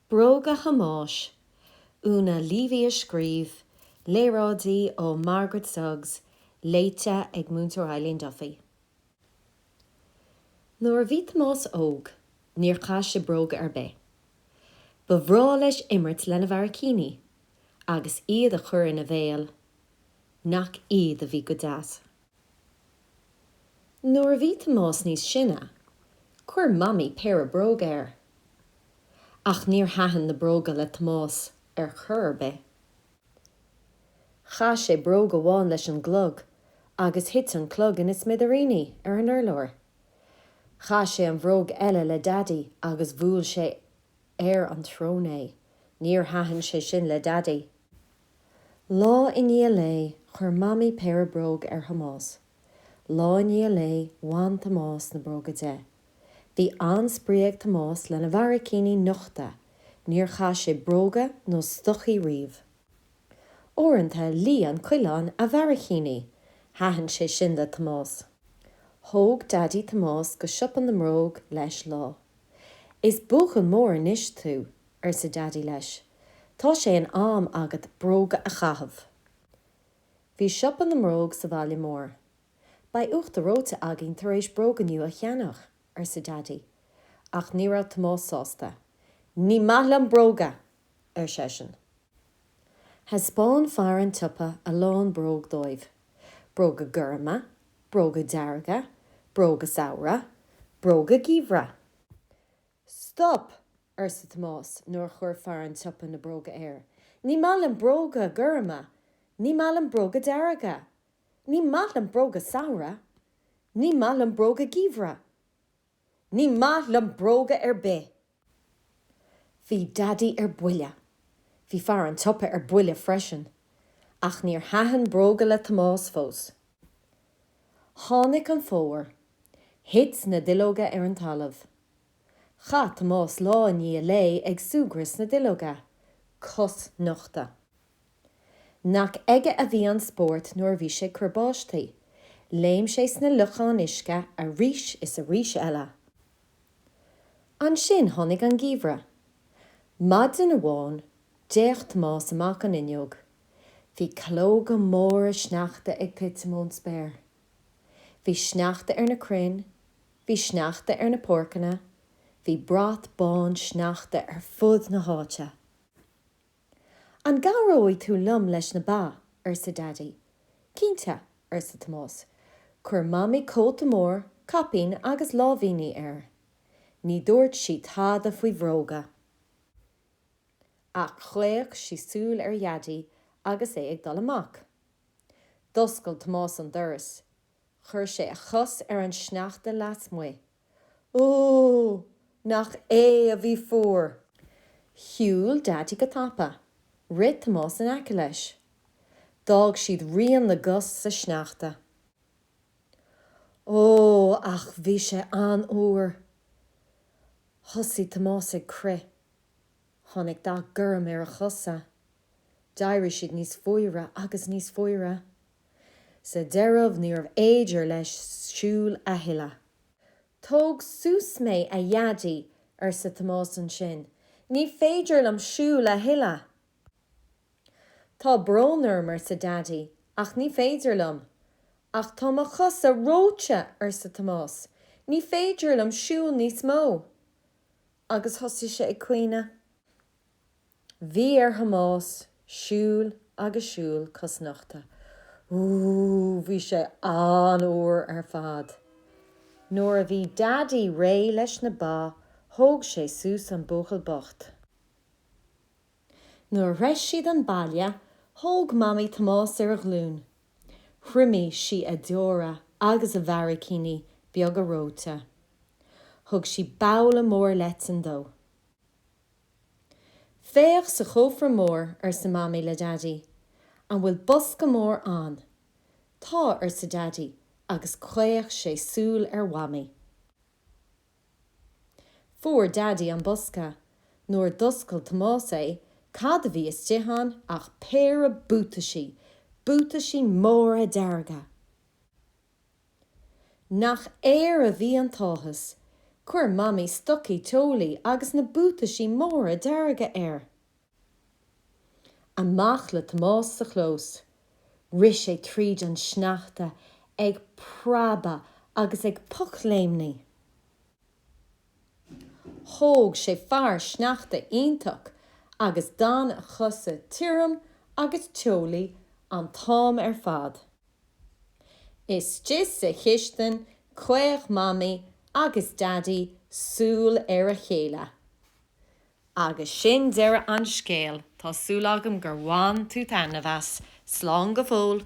Bróga Thomáis, Una Leavy a scríobh, léaráidí ó Margaret Suggs, léite ag Múinteoir Eileen Duffy Nuair a bhí Tomás óg, níor chaith sé bróga ar bith. Ba bhreá leis imirt lena bharraicíní agus iad a chur ina bhéal. Nach iad a bhí go deas! Nuair a bhí Tomás níos sine, chuir Mamaí péire bróg air. Ach níor thaitin na bróga le Tomás ar chor ar bith. Chaith sé bróg amháin leis an gclog agus thit an clog ina smidiríní ar an urlár. Chaith sé an bhróg eile le Daidí agus bhuail sé ar an tsrón é. Níor thaitin sé sin le Daidí. Lá i ndiaidh lae, chuir Mamaí péire bróg ar Thomás. Lá i ndiaidh lae, bhain Tomás na bróga de. Bhí an-spraoi ag Tomás lena bharraicíní nochta, níor chaith sé bróga nó stocaí riamh. Uaireanta, lí an coileán a bharraicíní. Thaitin sé sin le Tomás. Thóg Daidí Tomás go siopa na mbróg leis lá. Is buachaill mór anois tú, arsa Daidí leis, tá sé in am agat bróga a chaitheamh. Bhí siopa na mbróg sa bhaile mór. Beidh uachtar reoite againn tar éis bróga nua a cheannach, arsa Daidí. Ach ní raibh Tomás sásta. Ní maith liom bróga! ar seisean. Thaispeáin fear an tsiopa a lán bróg dóibh, bróga gorma, bróga dearga, bróga samhraidh, bróga geimhridh. Stop! arsa Tomás nuair a chuir fear an tsiopa na bróga air. Ní maith liom bróga gorma! Ní maith liom bróga dearga! Ní maith liom bróga samhraidh! Ní maith liom bróga geimhridh! Ní maith liom bróga ar bith! Bhí Daidí ar buile. Bhí fear an tsiopa ar buile freisin. Ach níor thaitin bróga le Tomás fós. Tháinig an fómhar. Thit na duilleoga ar an talamh. Chaith Tomás lá i ndiaidh lae ag súgradh sna duilleoga, cosnochta. Nach aige a bhí an spórt nuair a bhí sé ag cur báistí. Léim sé sna locháin uisce arís is arís eile. Ansin tháinig an geimhreadh. Maidin amháin, d'fhéach Tomás amach an fhuinneog. Bhí calóga móra sneachta ag titim ón spéir. Bhí sneachta ar na crainn, bhí sneachta ar na páirceanna, bhí brat bán sneachta ar fud na háite. An gcabhróidh tú liom leis na ba? arsa Daidí. Cinnte, arsa Tomás. Chuir Mamaí cóta mór, caipín agus láimhíní air. Ní dúirt sí tada faoi bhróga. Ach chaoch sí súil ar Dhaidí agus é ag dul amach. D'oscail Tomás an doras. Chuir sé a chos ar an sneachta lasmuigh. Ó! Nach é a bhí fuar! Shiúil Daidí go tapa. Rith Tomás in aice leis. D'fhág siad rian na gcos sa sneachta. Ó, ach bhí sé an-fhuar! Thosaigh Tomás ag crith. Tháinig dath gorm ar a chosa. D'éirigh siad níos fuaire agus níos fuaire. Sa deireadh níorbh fhéidir leis siúl a thuilleadh. Tóg suas mé, a Dhaidí, arsa Tomás ansin. Ní féidir liom siúl a thuilleadh! Tá brón orm, arsa Daidí, ach ní féidir liom. Ach tá mo chosa reoite, arsa Tomás, ní féidir liom siúl níos mó. Agus thosaigh sé ag caoineadh. Bhí ar Thomás siúl agus siúl cosnochta. Ooh, bhí sé an-fhuar ar fad. Nuair a bhí Daidí réidh leis na ba, thóg sé suas an buachaill bocht. Nuair a shroich siad an baile, thóg Mamaí Tomás ar a glúin. Thriomaigh sí a deora agus a bharraicíní beaga reoite. Thug sí babhla mór leitean dó. 'Féach sa chófra mór, arsa Mamaí le Daidí. 'An bhfuil bosca mór ann? 'Tá, arsa Daidí, agus chaoch sé súil ar Mhamaí. Fuair Daidí an bosca. Nuair a d'oscail Tomás é, cad a bhí istigh ann ach péire buataisí, buataisí móra dearga! Nach air a bhí an t-áthas! Chuir Mamaí stocaí teolaí agus na buataisí móra dearga air. Amach le Tomás sa chlós. Rith sé tríd an sneachta ag preabadh agus ag pocléimní. Thóg sé fear sneachta iontach agus d'fhan a chosa tirim agus teolaí an t-am ar fad. Istigh sa chistin chaoch Mamaí agus Daidí súil ar a chéile. Agus sin deireadh an scéil. Tá súil agam gur bhain tú taitneamh as. Slán go fóill.